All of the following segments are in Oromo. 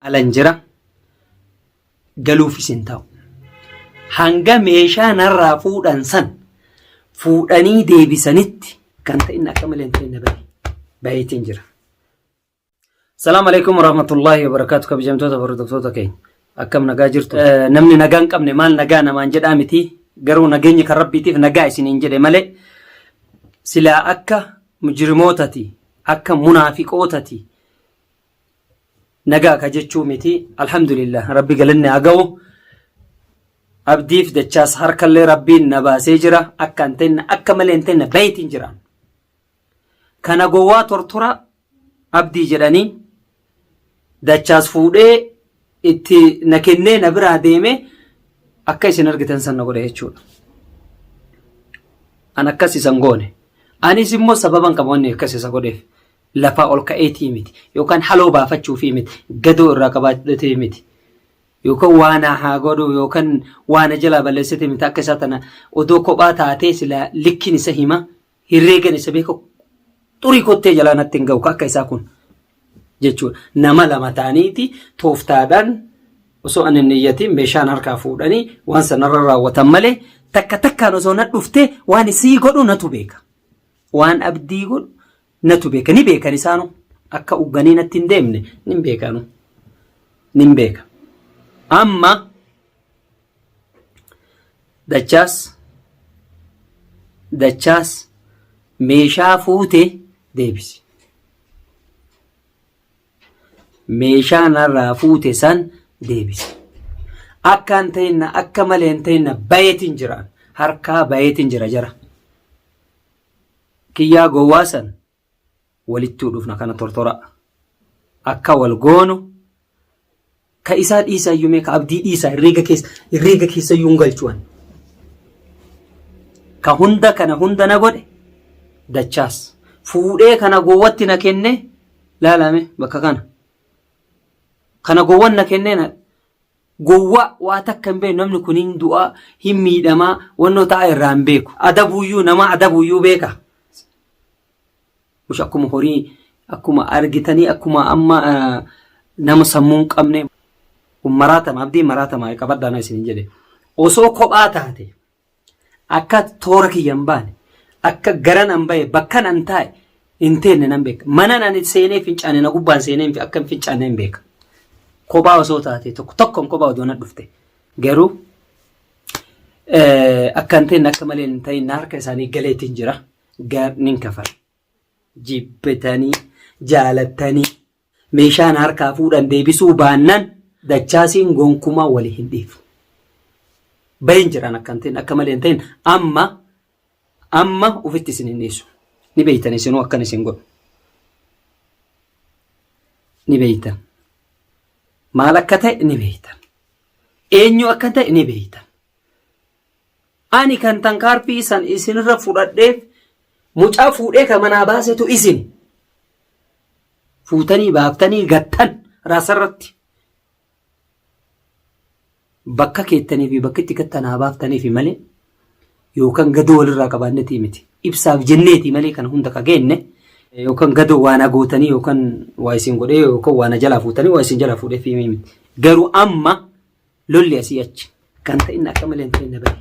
alan jira galuufis hin ta'u. Hanga meeshaa narraa fuudhan san fuudhanii deebisanitti kan ta'in akka malee hin ta'in bahe. Baheetiin jira. Salaam alaikum warahmatullahi wabarakatuh kabajamtoota hordoftoota keenya. Akkam nagaa jirtu? Namni nagaa hin qabne maal nagaa namaan jedhaa miti. Garuu nageenyi kan rabbiitiif nagaa isiniin jedhe malee silaa akka mujrimootati akka munaafiqootati nagaa ka jechuu miti alhamdulillah rabbi galanni haa ga'u abdiif dachaas harkallee rabbiin na baasee jira akka hin tenne akka malee hin tenne bayetiin jira kana gowwaa tortora abdii jedhanii dachaas fuudhee itti na kennee na biraa deeme akka isin argitan san na godhe jechuudha an akkas isan goone anis immoo sababan qaba wanni akkas isa godheef lafaa ol ka'eetii miti yookaan haloo baafachuufii miti gadoo irraa qabaatee miti yookaan waana haa godhu yookaan waana jalaa balleessitee miti akka isaa tana odoo kophaa taatee silaa likkiin isa hima hirreegan isa beeku xurii kottee jalaa natti hin ga'u akka isaa kun jechuudha nama lama ta'aniiti tooftaadhaan osoo ani niyyatiin meeshaan harkaa fuudhanii waan sanarra raawwatan malee takka takkaan osoo na dhuftee waan isii godhu natu beeka waan abdii godhu Natu beeka ni beekan isaanu akka ugganii natti hin deemne nin beekanu nin beeka amma dachaas dachaas meeshaa fuute deebisi meeshaa narraa fuute san deebisi akka hin ta'inna akka malee hin ta'inna bayeetiin jiraan harkaa bayeetiin jira jara. kiyyaa gowwaa san walittuu dhufna kana tortora akka wal goonu ka isaa dhiisaa iyyuu mee ka abdii dhiisaa herreega keessa herreega keessa iyyuu hin galchuwan ka hunda kana hunda na godhe dachaas fuudhee kana gowwatti na kenne laalame bakka kana kana gowwan na kennee na Gowwaa waa takka hin beeku namni kun hin du'a hin miidhamaa wannoo ta'a irraa hin beeku. Adabuuyyuu namaa adabuuyyuu beeka. Mush akkuma horii akkuma argitanii akkuma amma nama sammuu hin qabne maraatama abdiin maraatama qabadhaa na isin hin jedhe. Osoo kophaa taate Akka toora kiyya hin baane, akka garan an bahe, bakkan an taa'e hin teenne nan beeka. Manan ani seenee fincaane na gubbaan seenee hin fi- akka hin fincaanne hin beeka. Kophaa osoo taate tokko tokkoon kophaa odoo na dhufte. Garuu eh, akka hin teenne akka malee hin ta'in na harka isaanii galeetiin jira. Gaar nin kafala. Jibbitanii, jaalattanii, Meeshaa na harkaa fuudhan deebisuu baannan Dachaasiin gonkumaa wali hin dhiifnu. Bayen jiran akka hin ta'in akka malee hin ta'in amma amma ufitti isin hin dhiisu. Ni beeytan isinuu akkan isin godhu. Ni beeytan. Maal akka ta'e ni beeytan. Eenyu akka ta'e ni beeytan. Ani kan tankaarfii san isinirra fudhadheef mucaa fuudhee ka manaa baasetu isin. Fuutanii baaftanii gattan raasarratti. Bakka keettanii fi bakki itti gattan haa baaftaniifi malee yookaan gadoo walirraa qabaannetii miti. Ibsaaf jenneeti malee kan hunda ka geenne yookaan gadoo waa na gootanii yookaan waa isin godhee yookaan waa na jalaa fuutanii waa isin jalaa fuudheef himii miti. Garuu amma lolli asii achi kan ta'in akka malee hin ta'in bahe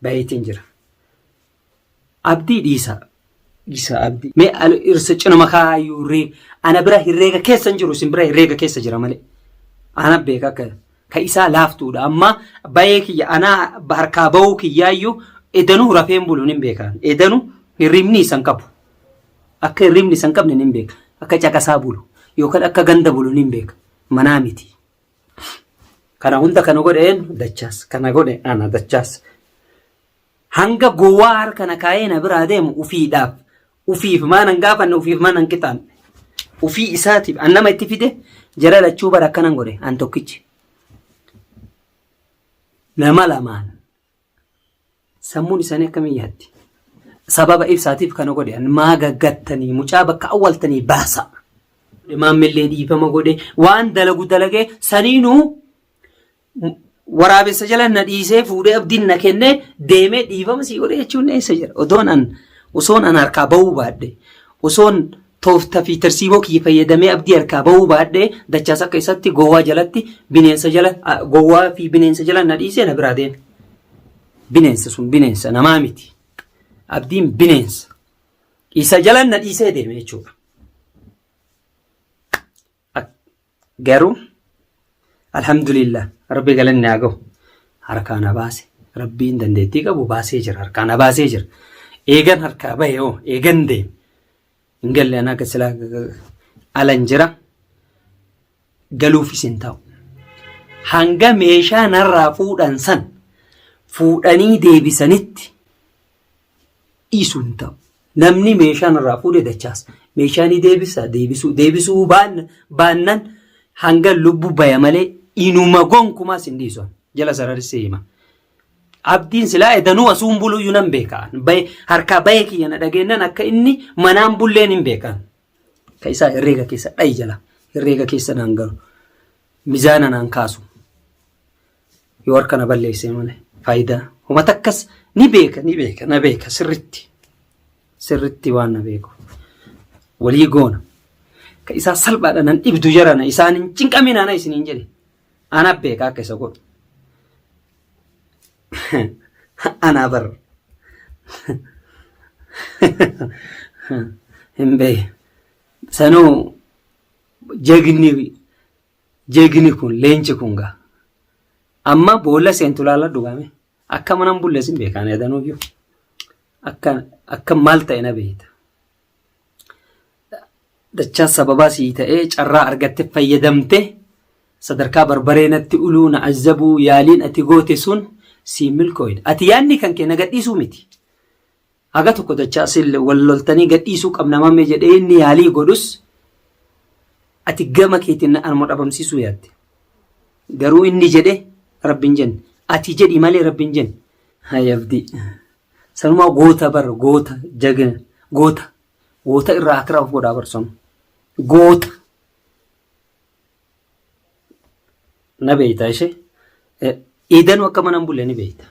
baheetiin jira. Abdii dhiisaa. Dhiisaa abdii. Mee irsa cinuma kaayyuu reega. Ana bira hirreega keessa hin jiru isin bira hirreega keessa jira malee. Ana beeka akka ka isaa laaftuudha amma bayee kiyya anaa harkaa bahuu kiyyaayyuu edanuu rafeen buluun hin beekaan. Edanuu hirribni isan qabu. Akka hirribni isan qabne hin beeka. Akka caqasaa bulu yookaan akka ganda bulu hin beeka. Manaa miti. Kana hunda kan godhe eenyu? Dachaas. Kana godhe ana dachaas. Hanga gowwaa harka na kaa'ee na biraa deemu ufiidhaaf. Ufiif maan hin gaafanne ufiif maan hin qixaanne. Ufii isaatiif an nama itti fide jara lachuu bara akkanan godhe an tokkichi. Nama lamaan Sammuun isaanii akkamiin yaaddi? Sababa ibsaatiif kana godhe an maa gaggattanii mucaa bakka awwaltanii baasa. Maammillee dhiifama godhe waan dalagu dalagee saniinuu waraabessa jala na dhiisee fuudhee abdiin na kennee deemee dhiifama sii godhe jechuun eessa jira? Odoon an osoon an harkaa ba'uu baadhe osoon Toofta fi tarsiimoo kiyya fayyadamee abdii harkaa bahuu baadhee dachaas akka isatti gowwaa jalatti bineensa jala gowwaa fi bineensa jala na dhiisee na biraa deeme. Bineensa sun bineensa namaa miti. Abdiin bineensa. Isa jala na dhiisee deeme jechuudha. Garuu alhamdulillah rabbi galanni haa gahu harkaa na baase rabbiin dandeettii qabu baasee jira harkaa na baasee jira eegan harkaa bahe hoo eegan deeme hin galle anaa akka silaa alan jira galuufis hin ta'u hanga meeshaa narraa fuudhan san fuudhanii deebisanitti dhiisu hin ta'u. Namni meeshaan irraa fuudhe dachaasa. Meeshaa ni deebisa deebisuu deebisuu baan- baannan hanga lubbu baya malee inuma gonkumaas hin dhiisu. Jala sararissee hima. Abdiin silaa edanuu asuun buluyyuu nan beekaan. Baye- Harkaa bayee kiyya na dhageennan akka inni manaan bulleen hin beekaan. Ka isaa herreega keessa dhayi jala. Herreega keessa naan galu. Mizaana naan kaasu. yoo harka na balleessee malee faayidaa homa takkas ni beeka ni beeka na beeka sirritti sirritti waan na beeku walii goona ka isaa salphaadha nan dhibdu jarana isaan hin cinqamin ana isin hin jedhe ana beeka akka isa godhu anaa bar hin beeku sanuu jagni Jegini kun leenci kun gaa. Amma boolla seentu laala dhugaame. Akka mana hin bulleessin beekaan yadanuu jiru. Akka akka maal ta'e na beekta. Dachaa sababaa sii ta'ee carraa argatte fayyadamte sadarkaa barbaree natti uluu na azzabuu yaaliin ati goote sun sii milkooyne. Ati yaadni kan kee na gadhiisuu miti. Haga tokko dachaasille wal loltanii gadhiisuu qabna mammee jedhee inni yaalii godhus ati gama keetiin anuma dhabamsiisuu yaalte. Garuu inni jedhe rabbiin jenne. Ati jedhi malee rabbiin jenne. Hayi abdii. Sanumaa goota bar goota jagina goota goota irraa akira of godhaa bar sun goota. na beekta ishee iidanuu akka mana hin bulle ni beekta.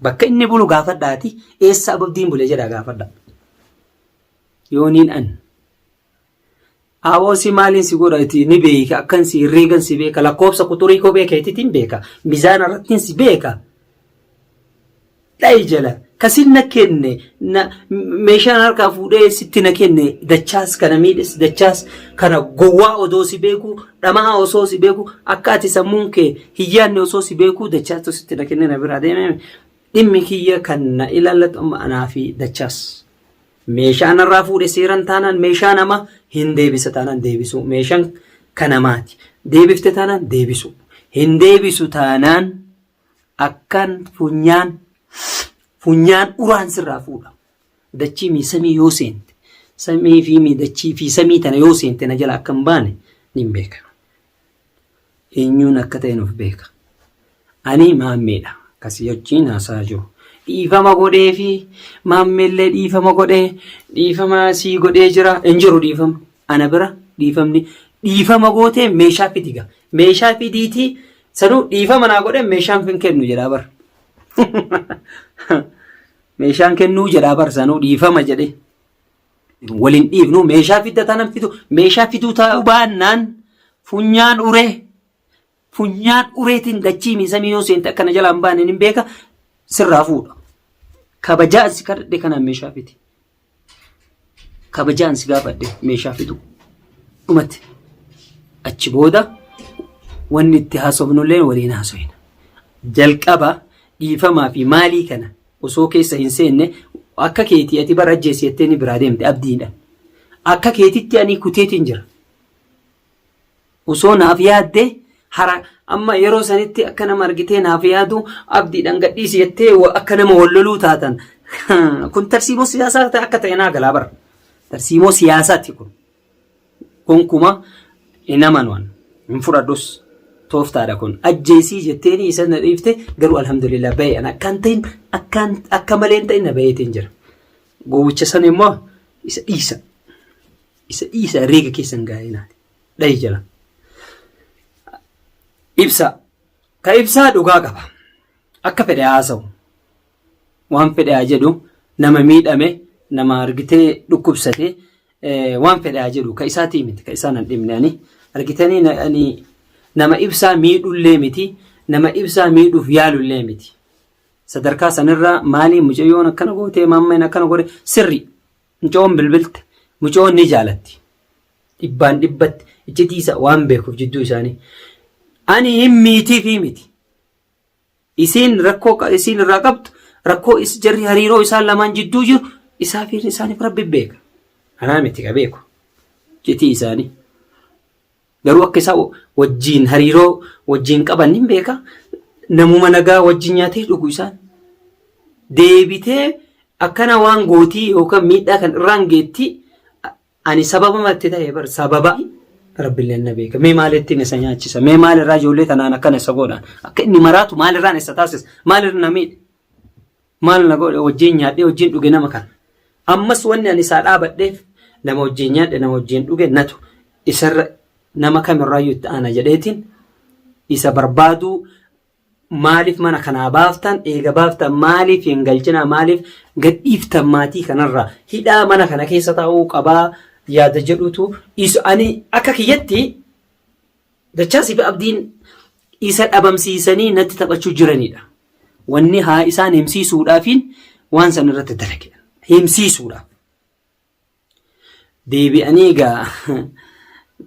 Bakka inni bulu gaafadhaati eessa ababdiin bule jedhaa gaafadha. Yooniin an aboo si maaliin si godha itti ni beeka akkan si herreegan si beeka lakkoofsa quxurii kophee keetiitiin beeka mizaana irrattiin si beeka. dhayi jala kasin na kenne na meeshaan harkaa fuudhee sitti na kenne dachaas kana miidhes dachaas kana gowwaa odoo si beeku dhama'aa osoo si beeku akka ati sammuun kee hiyyaanne osoo si beeku dachaatu sitti na kenne na biraa deemee dhimmi kiyya kan na ilaallatu amma anaa fi dachaas. Meeshaa narraa fuudhe seeran taanaan meeshaa nama hin deebisa taanaan deebisuu meeshaan kanamaati deebifte taanaan deebisuu hin deebisu taanaan akkan funyaan funyaan uraan sirraa fuudha. Dachii mii samii yoo seente samii fi mii dachii fi samii tana yoo seente na jala akka hin baane nin beeka. Eenyuun akka ta'e nuuf beeka. Ani maammeedha. Akkasii wajjin haasaa jiru. Dhiifama godhee fi maammeellee dhiifama godhee dhiifama sii godhee jira hin jiru dhiifama. Ana bira dhiifamni dhiifama gootee meeshaa fidiga. Meeshaa fidiitii Sanuu dhiifama naa godhe meeshaan kan kennu jedhaa bar. Meeshaan kennuu jedhaa bar sanuu dhiifama jedhe. Waliin dhiifnu meeshaa fidda taanaan fidu meeshaa fiduu taa'uu baannaan funyaan uree funyaan ureetiin dachii miisamii yoo seente akkana jalaan baaneen hin beeka sirraa fuudha. Kabajaa si kadhadhe kanaan meeshaa fidi. kabajaan si gaafadhe meeshaa fiduu dhumatti achi booda wanni itti haasofnullee waliin haasofna. Jalqaba dhiifamaa fi maalii kana osoo keessa hin seenne akka keetii ati bara ajjeessi jettee ni biraa deemte abdiidha. Akka keetitti ani kuteetiin jira. Osoo naaf yaaddee hara amma yeroo sanitti akka nama argitee naaf yaadu abdiidhaan gadhiisi jettee akka nama wal loluu taatan kun tarsiimoo siyaasaa akka ta'e naa galaa bara. Tarsiimoo siyaasaati kun. Gonkuma hin amanuan hin fudhadhus tooftaadha kun ajjeesii jetteeni isa na dhiifte garuu alhamdulillah bahee an akkaan ta'in akkaan akka malee hin ta'in na baheetiin jira. Gowwicha sana immoo isa dhiisa. Isa dhiisa reega keessan gaa'ee naati. Dhahi jala. Ibsaa. Ka ibsaa dhugaa qaba. Akka fedhe haasa'u. Waan fedhe haa jedhu nama miidhame nama argitee dhukkubsate waan fedhe haa jedhu ka isaatii miti ka isaan hin dhimne ani argitanii na- ani nama ibsaa miidhullee miti nama ibsaa miidhuuf yaalullee miti. Sadarkaa sanirraa maaliin mucayyoon akkana gootee maammeen akkana godhe sirrii. Mucoon bilbilte mucoon ni jaalatti. Dhibbaan dhibbatti iccitii isa waan beekuuf jidduu isaanii. Ani hin miitiifii miti. Isiin rakkoo qa- isiin irraa qabdu rakkoo is jarri hariiroo isaan lamaan jidduu jiru isaa fi isaaniif rabbi beeka. Anaa miti ka beeku. Iccitii isaanii. Garuu akka isaa wajjiin hariiroo wajjiin qaban nin beeka. Namuma nagaa wajjin nyaatee dhugu isaan. Deebitee akkana waan gootii yookaan miidhaa kan irraan geetti ani sababa matti ta'e bar sababa rabbillee na beeka. Mee maal ittiin isa nyaachisa? Mee maal irraa ijoollee tanaan akkana isa godhaan? Akka inni maraatu maal irraan isa taasisa? Maal irra na miidhe? Maal na godhe wajjin nyaadhee wajjin dhuge nama kana. Ammas wanni ani isaa dhaabadheef nama wajjin nyaadhe nama wajjin dhuge natu isarra nama kamirraayyuu itti aana jedheetiin isa barbaaduu maaliif mana kanaa baaftan eega baaftan maaliif hin galchinaa maaliif gadhiiftan maatii kanarraa hidhaa mana kana keessa taa'uu qabaa yaada jedhutu isa ani akka kiyyatti Dachaasii fi Abdiin isa dhabamsiisanii natti taphachuu jiranidha. Wanni haa isaan himsiisuudhaafiin waan san irratti dalage. Himsiisuudhaaf. Deebi'anii egaa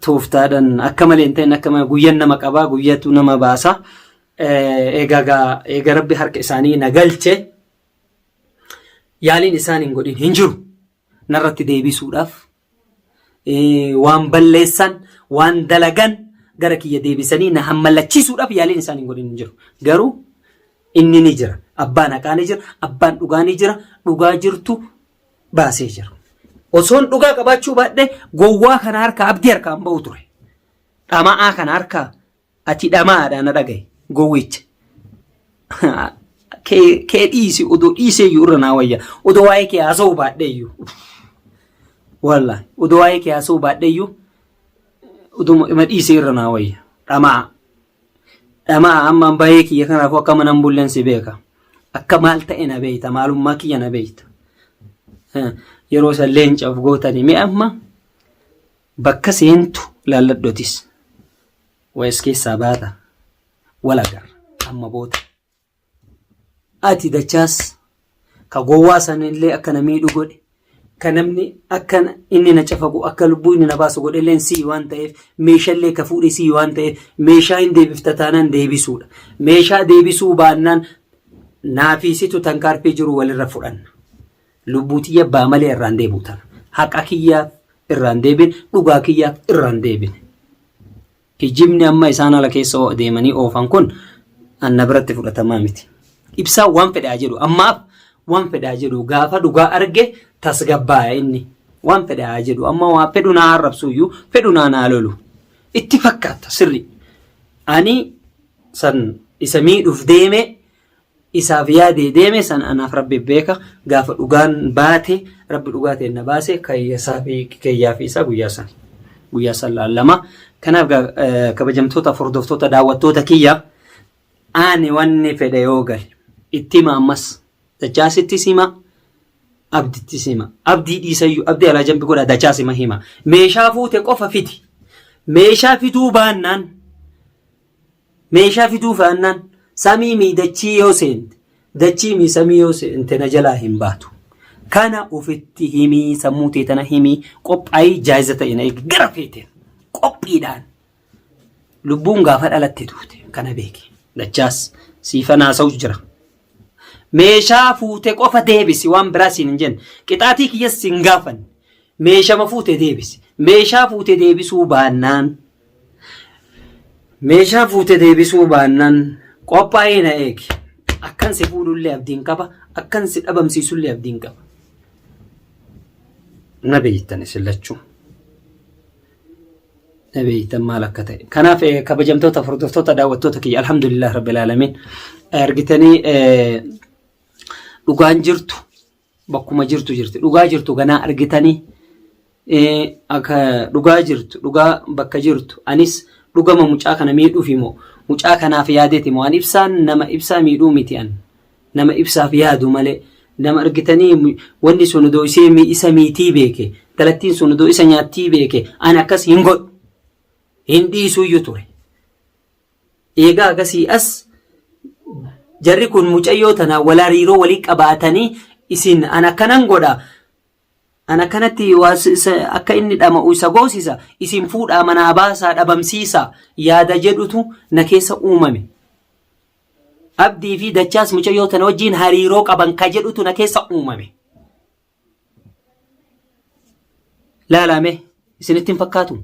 tooftaadhaan akka malee hin ta'in akka malee guyyan nama qabaa guyyatu nama baasa. Egaa eega rabbi harka isaanii na galche yaaliin isaan hin godhin hin jiru. narratti deebisuudhaaf waan balleessan waan dalagan gara kiyya deebisanii na hammallachiisuudhaaf yaaliin isaan hin godhin hin jiru. Garuu inni ni jira. Abbaan haqaa ni jira. Abbaan dhugaa ni jira. Dhugaa jirtu baasee jira. Osoon dhugaa qabaachuu baadhee gowwaa kana harkaa abdii harkaa hin ba'u ture. Dhama'aa kana harkaa Ati dhama'aadha na dhagahi gowwicha. Kee kee dhiisi odoo dhiiseeyyuu irra naa wayya odoo waa'ee kee haasa'uu baadheeyyuu. Wallaahi odoo waa'ee kee haasa'uu baadheeyyuu oduma ima dhiisee irra naa wayya dhama'a. Dhama'a ammaan bahee kiyya kanaafuu akka mana hin bulleen si beeka. Akka maal ta'e na beekta maalummaa kiyya na beekta. Yeroo san leencaaf gootanii mee amma Bakka seentu laalladhu atis. Waes keessaa baata. Wal agarra. Amma booda. Ati dachaas ka gowwaa sanillee akka na miidhu godhe ka namni akka na- inni na cafaqu akka lubbuu inni na baasu godhe illee sii waan ta'eef meeshallee ka fuudhe sii waan ta'eef meeshaa hin deebifta taanaan deebisuudha. Meeshaa deebisuu baannaan naafiisitu tankaarfii jiru walirra fudhanna. Lubbuu tiyya baa malee irraa hin deebi'u tana. Haqa kiyyaaf irraa hin deebine, dhugaa kiyyaaf irraa hin deebine. Kijibni amma isaan ala keessa oo- deemanii oofan kun anna biratti fudhatamaa miti. Ibsaa waan fedhaa jedhu ammaaf waan fedhaa jedhu gaafa dhugaa arge tasgabbaaya inni. Waan fedhaa jedhu amma waan fedhu naa arrabsuuyyuu fedhu naa naa lolu. Itti fakkaata sirri. Ani san isa miidhuuf deeme isaaf yaadee deeme san anaaf rabbi beeka gaafa dhugaan baate rabbi dhugaa ta'e na baase kayyasaa fi kiyyaa fi isaa guyyaa san guyyaa san laallama kanaaf gaa- eh, kabajamtoota hordoftoota daawwattoota kiyya ani wanni fedhe yoo gale itti hima ammas dachaasitti sima abditti sima abdii dhiisayyuu abdii alaa jambi godha dachaa sima hima meeshaa fuute qofa fiti meeshaa fiduu baannaan Meeshaa fiduu faannaan samii mii dachii yoo seente dachii mii samii yoo seente na jalaa hin baatu. Kana ufitti himii sammuu tee tana himii qophaa'ii jaayiza ta'e na eegi gara feete qophiidhaan lubbuun gaafa dhalatte duute kana beeki dachaas siifan haasa'u jira. Meeshaa fuute qofa deebisi waan biraa siin hin jenne qixaatii kiyyas siin gaafanne meeshama fuute deebisi meeshaa fuute deebisuu baannaan Meeshaa fuute deebisuu baannaan qophaa'ee na eegi. Akkan si fuudhullee abdiin qaba. Akkan si dhabamsiisullee abdiin qaba. Na beektan isin lachuu. Na beektan maal akka ta'e. Kanaaf eh, kabajamtoota hordoftoota daawwattoota kiyya alhamdulillah rabbil aalamiin argitanii eh, dhugaan jirtu bakkuma jirtu jirti dhugaa jirtu ganaa argitanii akka dhugaa jirtu dhugaa bakka jirtu anis dhugama mucaa kana miidhuuf immoo mucaa kanaaf yaadeti immoo an ibsaan nama ibsaa miidhuu miti an nama ibsaaf yaadu malee nama argitanii wanni sun odoo ishee isa miitii beeke galattiin sun odoo isa nyaattii beeke an akkas hin godhu hin dhiisuyyuu ture Eegaa agasii as jarri kun mucayyoo tana wal hariiroo walii qabaatanii isin an akkanan godha an akkanatti akka inni dhama'u isa goosisa isin fuudhaa manaa baasaa dhabamsiisa yaada jedhutu na keessa uumame. Abdii fi dachaas mucayyoo tana wajjiin hariiroo qaban ka jedhutu na keessa uumame. Laalaa mee isinitti hin fakkaatu?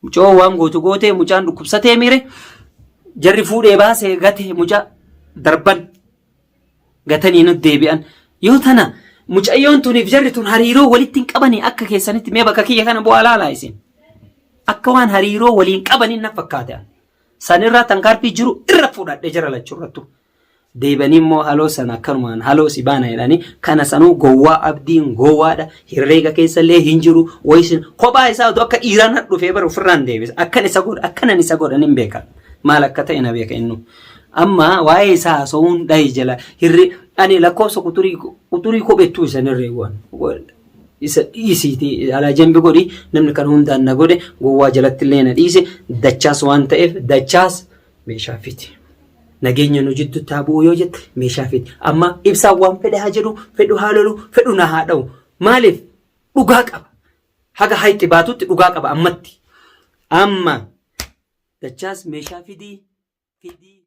Mucoo waan gootu gootee mucaan dhukkubsatee miire jarri fuudhee baasee gatee mucaa darban gatanii nu deebi'an. Yoo tana mucayyoon tuniif jarri tun hariiroo walitti hin qabanii akka keessanitti mee bakka kiyya kana bu'aa laalaa isin. Akka waan hariiroo waliin qabaniin na fakkaate. Sanirraa tankaarfii jiru irra fudhadhe jara lachuu irrattu. deebanii immoo haloo sana akkanumaan haloo si baana jedhanii kana sanuu gowwaa abdiin gowwaadha hirreega keessa illee hin jiru wayisin kophaa isaa utuu akka dhiiraan hadhufee bara ofirraan deebisa akkan isa godha akkanan isa godhan hin beekan maal akka ta'e na beeka innu amma waa'ee isaa haasa'uun dhahi jala hirri ani lakkoofsa quturii quturii kophettuu isan hirree waan isa dhiisiiti alaa jambi godhi namni kan hundaan na godhe gowwaa jalatti illee na dhiise dachaas waan ta'eef dachaas meeshaa fidi. Nageenya nu jidduutti haa bu'u yoo jette meeshaa fidi. Amma ibsaan waan fedhe haa jedhu, fedhu haa lolu, fedhu na haa dha'u. Maaliif? Dhugaa qaba. Haga hayxi baatutti dhugaa qaba ammatti. Amma dachaas meeshaa fidii fidii.